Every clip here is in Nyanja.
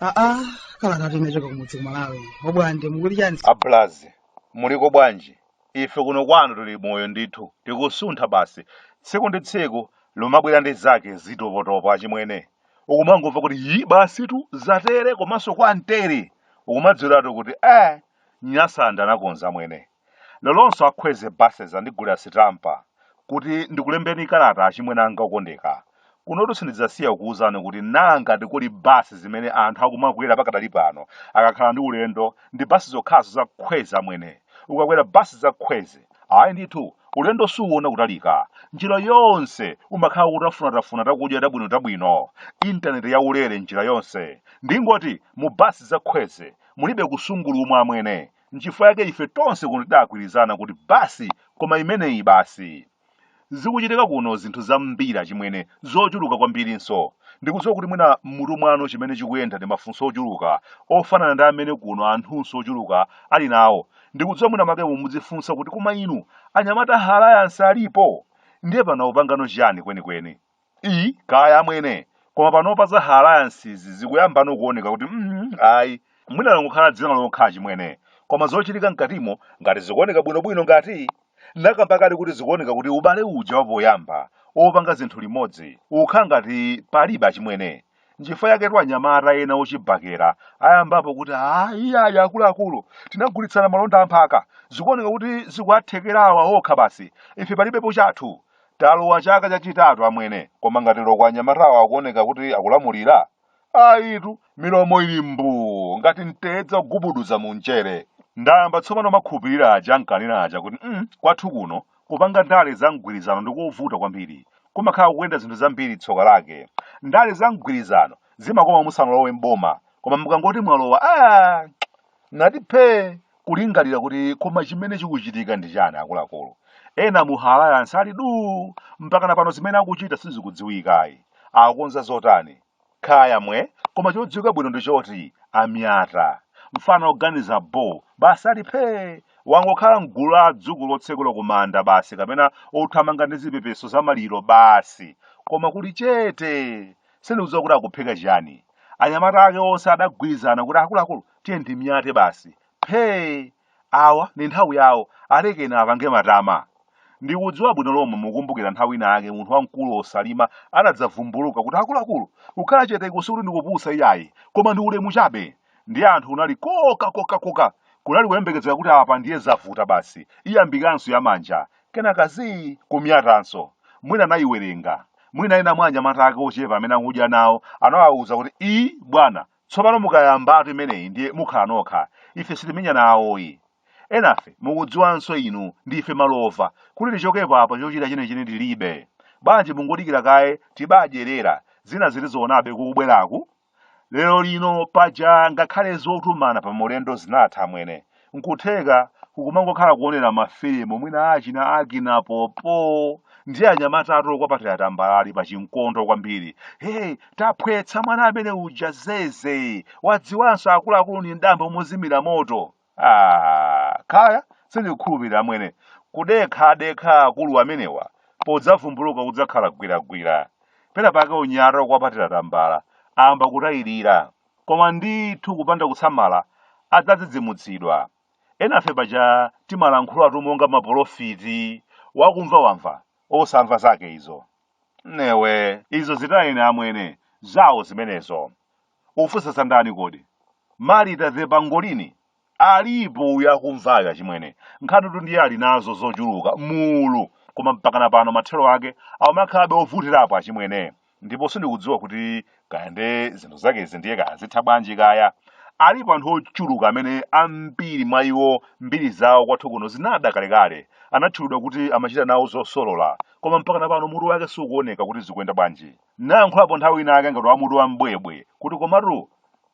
aa kalatayi inachoka kumudzi kumalawi obwande mukuti chani abulazi muliko bwanji Ife kuno kwanu tili moyo ndithu, tikusuntha basi. Tsiku ndi tsiku limabwera ndi zake zitopotopo achimwene. Ukumangomva kuti yi basitu zatere komanso kwa mteri. Ukumadziwiratu kuti eh Nyasaland anakonza amwene. Leronso a Kwezy buses andigulira sitampa kuti ndikulembeni kalata achimwene anga okondeka. Kunotu sindidzasiya kukuwuzani kuti nangati kuli bus zimene anthu akumakwera pakadali pano akakhala ndi ulendo ndi bus zokhazo za Kwezy amwene. Ukakwera bus za Kwezy, ayi ndithu ulendo suwuwona kutalika. Njira yonse umakhala ukutafunatafuna takudya tabwinotabwino. Internet ya ulere njira yonse. Ndingoti mu bus za Kwezy mulibe kusungulumwa amwene. Nchifukwa chake ife tonse kuno tidagwirizana kuti bus koma imeneyi basi. Zikuchitika kuno zinthu zambiri achimwene, zochuluka kwambirinso. Ndikudziwa kuti mwina m'mutu mwanu chimene chikuyenda ndi mafunso ochuluka, ofanana ndi amene kuno anthunso ochuluka ali nawo. Ndikudziwa mwina mwake inu mudzifunsa kuti koma inu, anyamata a Alliance alipo? Ndiye pano akupangano chiyani kwenikweni? i kaya amwene koma panopa za alliance zikuyambano kuoneka kuti mm, ayi mwina langokhala dzina lokha achimwene koma zochitika mkatimo ngati zikuoneka bwinobwino ngati nakamba kale kuti zikuoneka kuti ubale uja wapoyamba opanga zinthu limodzi ukhala ngati palibe achimwene nchifukwa yaketu anyamata ena ochibakera ayambapo kuti ayi ayi akuluakulu tinagulitsana malonda a mphaka zikuoneka kuti zikuwathekera awa okha basi ife palibepo chathu talowa chaka chachitatu amwene koma ngati loko anyamatawo akuoneka kuti akulamulira ayitu milomo ili mbuu ngati mtedza wogubuduza mu mchere ndayamba tsopano makhupirira aja ankanena aja kuti mm, kwathu kuno Kupanga ndale za mgwirizano ndi kovuta kwambiri. Kumakhala kukuyenda zinthu zambiri tsoka lake. Ndale za mgwirizano zimakoma musanalowe m'boma koma mukangoti mwalowa aah nati phee kulingalira kuti koma chimene chikuchitika ndi chani akuluakulu. Ena mu Alliance ali duu mpakana pano zimene akuchita sizikudziwika ayi. Akukonza zotani? Kaya mwe, koma chodziwika bwino ndi choti amyata, mfana oganiza bho, basi ali phee! Wangokhala m'gulu la adzukulu otsekula ku manda basi kapena othamanga ndi zipepeso za maliro basi koma kuli chete! Sindikudziwa kuti akuphika chiyani. Anyamata ake onse adagwirizana kuti akuluakulu tiyeni timyate basi. Phee! Awa ndi nthawi yawo, alekeni apange matama. Ndikudziwa bwino lomwe mukukumbukira nthawi ina yake munthu wamkulu o Chilima anadzavumbuluka kuti akuluakulu, kukhala cheteku sikuti ndikupusa iyayi, koma ndi ulemu chabe. Ndiye anthu kunali koka koka koka. Kunali kuyembekezera kuti apa ndiye zavuta basi, iyambikanso ya manja. Kenaka zii, kumiyatanso. Mwina anayiwerenga. Mwina ena mwa anyamata ake ochepa amene akudya nawo anawawuza kuti ii bwana, Tsopano mukayambatu imeneyi ndiye mukhala nokha. Ife sitimenyana nawoyi. Enafe mukudziwanso inu ndife malova kuti tichokepo apa chochita chenecheni tilibe. Bwanji mungodikira kaye tibadyerera zina zitizionabe kukubweraku? Lero lino paja ngakhale zotumana pa maulendo zinatha amwene. N'kutheka ukumangokhala kuonera mafilimu mwina achina Akina Popo ndi anyamatatu kwapatira tambala ali pa chimkondo kwambiri. Hey, taphwetsa mwana amene uja zeze. Wadziwanso akuluakulu ndi mtambo mozimira moto. Ah, kaya sindikukhulupirira amwene. Kudekha adekha akulu amenewa podzavumbuluka kudzakhala gwiragwira. Pena pake unyata kwapatira tambala ayamba kutayirira. Koma ndithu kupanda kusamala adzadzidzimutsidwa. Enafe paja timalankhulatu monga mapolofiti, wakumva wamva, osamva zake izo. Newe, izo zitayeni amwene, zawo zimenezo. Ufunsa za ndani kodi? Marita the Pangolini Alipo uyo akumvayo achimwene. Nkhanitu ndiye ali nazo zochuluka, mulu, koma mpakana pano mathero ake akukhalabe ovutirapo achimwene. Ndipo sindikudziwa kuti kaya nde zinthu zakezi ndiye kaya zitha bwanji kaya. Alipo anthu ochuluka amene ambiri mwa iwo mbiri zawo kwathu kuno zinada kalekale. Anatchulidwa kuti amachita nawo zosolola, koma mpakana pano mutu wake sukuoneka kuti zikuyenda bwanji. Ndinayankhulapo nthawi ina yake ngati wa mutu wa mbwebwe kuti komatu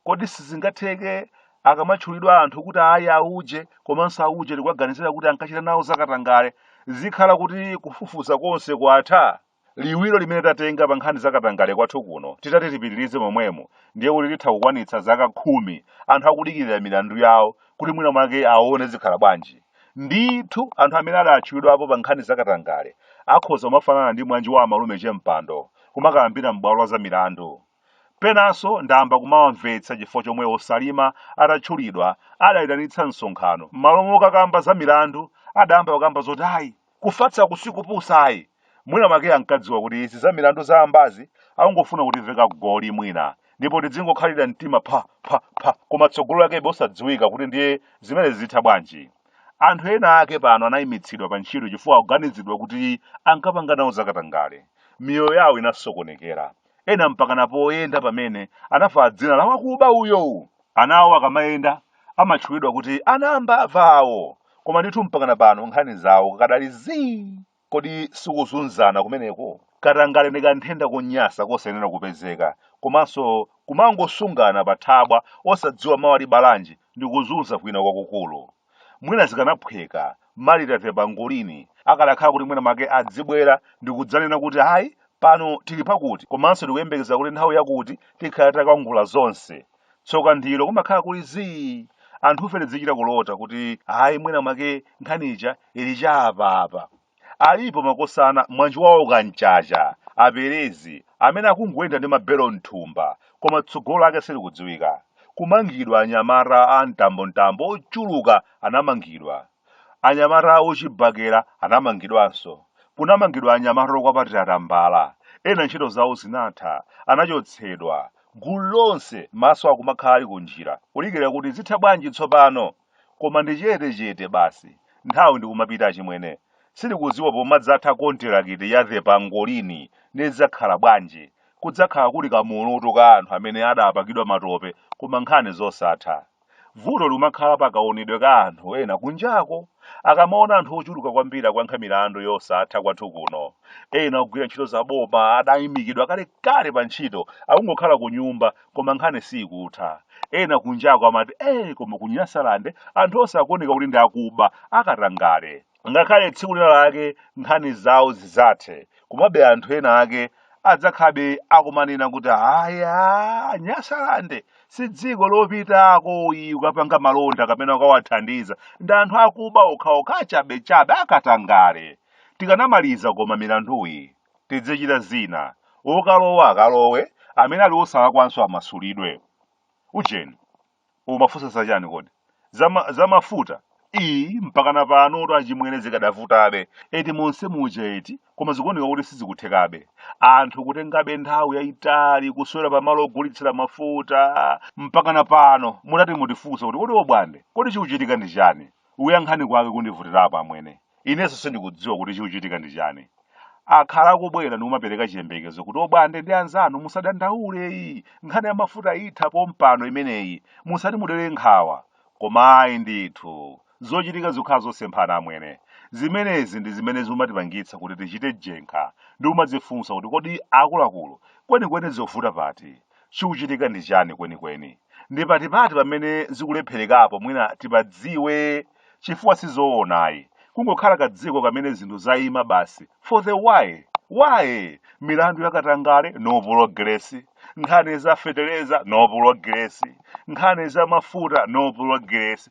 Kodi sizingatheke akamatchulidwa anthu kuti ayi auje komanso auje tikuwaganizira kuti ankachita nawo zakatangale, zikhala kuti kufufuza konse kwatha? Liwiro limene tatenga pa nkhani za katangale kwathu kuno titati tipitirize momwemo ndiye kuti titha kukwanitsa zaka khumi anthu akudikirira milandu yawo kuti mwina mwake aone zikhala bwanji. Ndithu anthu amene adatchulidwapo pa nkhani za katangale akhoza kumafanana ndi mwanji wa amalume Chempando kumakayambira m'bwalo la zamilandu. Penanso ndayamba kumawamvetsa chifukwa chomwe o Chilima atatchulidwa adaitanitsa msonkhano, mmalo mokakamba za milandu adayamba kukamba zoti ayi kufatsaku si kupusa ayi, mwina mwake ankadziwa kuti izi za milandu zayambazi akungofuna kutiveka goli mwina ndipo tidzingokhalira mtima pha pha pha koma tsogolo lakebe osadziwika kuti ndiye zimenezi zitha bwanji. Anthu ena ake pano anaimitsidwa pa ntchito chifukwa akuganiziridwa kuti ankapanga nawo zakatangale. Miyoyo yawo inasokonekera. ena mpakana poyenda pamene anavala dzina la wakuba uyowu ana awo akamayenda amatchulidwa kuti ana a mbava awo koma ndithu mpakana pano nkhani zawo kadali zii kodi sikuzunzana kumeneko katangale ndi kanthenda konyasa kosayenera kupezeka komanso kumangosungana pa thabwa osadziwa mawa libala chani ndi kuzunza kwina kwakukulu mwina zikanaphweka Marita the Pangolini akadakhala kuti mwina make adzibwera ndikudzanena kuti hayi pano tili pakuti komanso tikuyembekeza kuti nthawi yakuti tikhala takangula zonse tsoka ndilo kumakhala kuli zii anthufe tidzichita kulota kuti hayi mwina mwake nkhani ija ili cha apapa Alipo makosana Mwanjiwawa, aka Mchacha, a Perezi, amene akungoyenda ndi mabelo mthumba koma tsogolo lake silikudziwika. Kumangidwa anyamata a mtambo mtambo ochuluka anamangidwa. Anyamata ochibakera anamangidwanso. Kunamangidwa anyamata okwapatira tambala. Ena ntchito zawo zinatha, anachotsedwa. Gulu lonse maso akumakhala ali kunjira kudikira kuti zitha bwanji tsopano? koma ndi chete chete basi nthawi ndikumapita achimwene sindikudziwa pomadzatha kontirakiti ya the pangolini zidzakhala bwanji kudzakhala kuli kamulutu ka anthu amene adapakidwa matope koma nkhani zosatha vuto likumakhala pa kaonedwe ka anthu ena kunjako akamaona anthu ochuluka kwambiri akuyankha milandu yosatha kwathu kuno ena ogwira ntchito za boma adayimitsidwa kalekale pa ntchito akungokhala ku nyumba koma nkhani siikutha ena kunjako amati ee koma ku nyasalande anthu onse akuoneka kuti ndi akuba akatangale ngakhale tsiku lina lake nkhani zawo zizathe komabe anthu ena ake adzakhalabe akumanena kuti aya nyasalande si dziko lopitako iyi ukapanga malonda kapena ukawathandiza ndi anthu akuba okhaokha achabechabe akatangale tikanamalizako ma milanduyi tidzichitira zina okalowa akalowe amene ali osalakwanso amasulidwe ujeni umafunsa zachani kodi Zama- zamafuta iyi mpakana pano kuti achimwene zikadavutabe eti monse muja eti koma zikuoneka kuti sizikuthekabe anthu kutengabe nthawi yayitali kuswera pamalo ogulitsira mafuta mpakana pano mutati mutifunse kuti kodi obwande kodi chikuchitika ndi chani kuyankha kwake kukundivutirapo amwene inenso sindikudziwa kuti chikuchitika ndi chani akhala akubwera ndikumapereka chiyembekezo kuti obwande ndi anzanu musadandaule iyi nkhani ya mafuta itha pompano imeneyi musati mudere nkhawa koma ayi ndithu zochitika zikukhala zosemphana amwene zimenezi ndi zimene zimatipangitsa kuti tichite jenkha ndi kumadzifunsa kuti kodi akuluakulu kwenikweni zikuvuta pati Chikuchitika ndi chani kwenikweni? Ndi patipati pamene zikulepherekapo mwina tipadziwe chifukwa sizoona ayi. Kungokhala kadziko kamene zinthu zaima basi for the why? Why? Milandu ya katangale no pulogiresi, nkhani za fetereza no pulogiresi, nkhani za mafuta no pulogiresi.